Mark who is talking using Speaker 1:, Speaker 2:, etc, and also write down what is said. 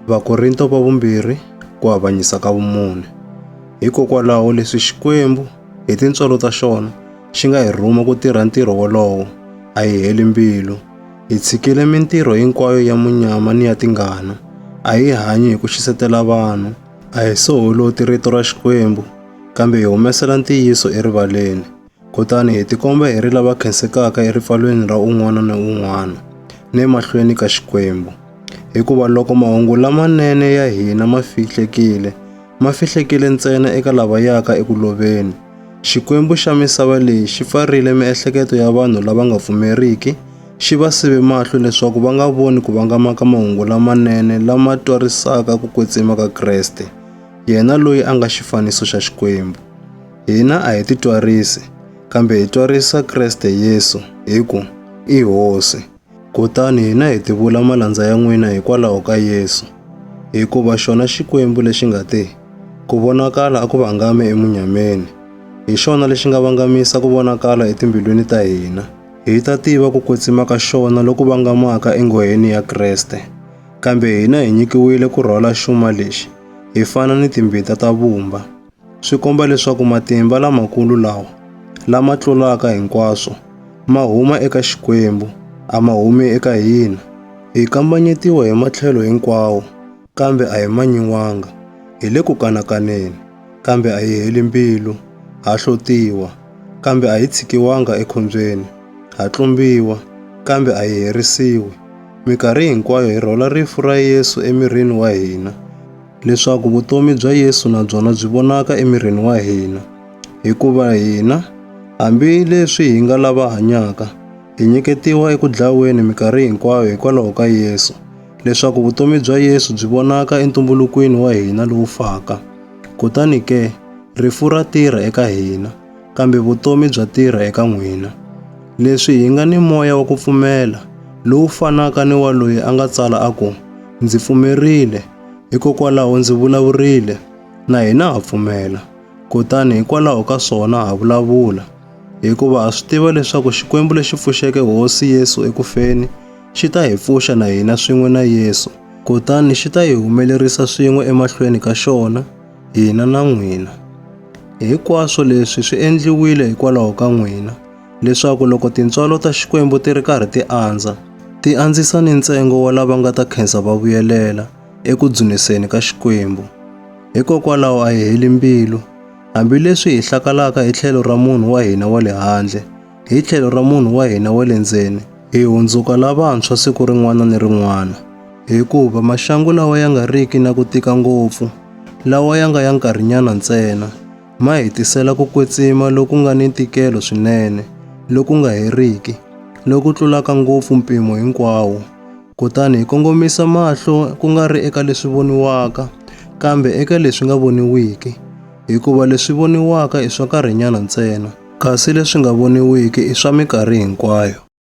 Speaker 1: Vakorinto va vumbirhi ku avanyisa ka vumune. Hikokwalaho leswi Xikwembu hi tintswalo ta xona xi nga hi rhuma ku tirha ntirho wolowo, a hi heli mbilu. Hi tshikile mintirho hinkwayo ya munyama ni ya tingana. A hi hanyi hi ku xisetela vanhu, a hi soholoti rito ra Xikwembu, kambe hi humesela ntiyiso erivaleni. Kutani hi tikomba hi ri lava khensekaka eripfalweni ra un'wana na un'wana ni emahlweni ka Xikwembu. Hikuva loko mahungu lamanene ya hina ma fihlekile, ma fihlekile ntsena eka lava yaka eku loveni. Xikwembu xa misava leyi xi pfarile miehleketo ya vanhu lava nga pfumeriki, xi va sive mahlo leswaku va nga voni ku vangama ka mahungu lamanene lama twarisaka ku kwetsima ka Kreste, yena loyi a nga xifaniso xa Xikwembu. Hina a hi titwarisi, kambe hi twarisa Kreste Yesu, hi ku, I Hosi. Kutani hina hi tivula malandza ya n'wina hikwalaho ka Yesu. Hikuva xona Xikwembu lexi nga te, Ku vonakala a ku vangame emunyameni, hi xona lexi nga vangamisa ku vonakala etimbilwini ta hina, hi ta tiva ku kwetsima ka xona loku vangamaka enghoheni ya Kreste. Kambe hina hi nyikiwile ku rhwala xuma lexi, hi fana ni timbita ta vumba. swi komba leswaku matimba lamakulu lawa lama tlulaka hinkwaswo ma huma eka Xikwembu, a ma humi eka hina. Hi kambanyetiwa hi matlhelo hinkwawo, kambe a hi manyiwanga. Hi le ku kanakaneni, kambe a hi heli mbilu. Ha hlotiwa, kambe a hi tshikiwanga ekhombyeni. Ha tlumbiwa, kambe a hi herisiwi. Mikarhi hinkwayo hi rhola rifu ra Yesu emirini wa hina, leswaku vutomi bya Yesu na byona byi vonaka emirini wa hina, hikuva hina, hambi leswi hi nga lava hanyaka, hi nyiketiwa eku dlaweni minkarhi hinkwayo hikwalaho ka Yesu, leswaku vutomi bya Yesu byi vonaka entumbulukweni wa hina lowu faka. Kutani ke, rifu ra tirha eka hina, kambe vutomi bya tirha eka n'wina. Leswi hi nga ni moya wa ku pfumela, lowu fanaka ni wa loyi a nga tsala a ku, Ndzi pfumerile, Hikokwalaho ndzi vulavurile, na hina ha pfumela. Kutani hikwalaho ka swona ha vulavula, hikuva ha swi tiva leswaku Xikwembu lexi pfuxeke Hosi Yesu eku feni xi ta hi pfuxa na hina swin'we na Yesu, kutani xi ta hi humelerisa swin'we emahlweni ka xona, hina na n'wina. Hinkwaswo leswi swi endliwile hikwalaho ka n'wina, leswaku loko tintswalo ta Xikwembu ti ri karhi ti andza, ti andzisa ni ntsengo wa lava nga ta khensa va vuyelela eku dzuniseni ka Xikwembu. Hikokwalaho a hi heli mbilu, hambileswi hi hlakalaka hi tlhelo ra munhu wa hina wa le handle, hi tlhelo ra munhu wa hina wa le ndzeni, hi hundzuka lavantshwa siku rin'wana ni rin'wana. Hikuva maxangu lawa ya nga riki na ku tika ngopfu, lawa ya nga ya nkarhinyana ntsena, ma hi tisela ku kwetsima loku nga ni ntikelo swinene, loku nga heriki, loku tlulaka ngopfu mpimo hinkwawo. Kutani hi kongomisa mahlo ku nga ri eka leswi voniwaka, kambe eka leswi nga voniwiki, hikuva leswi voniwaka i swa nkarhinyana ntsena, kasi leswi nga voniwiki i swa minkarhi hinkwayo.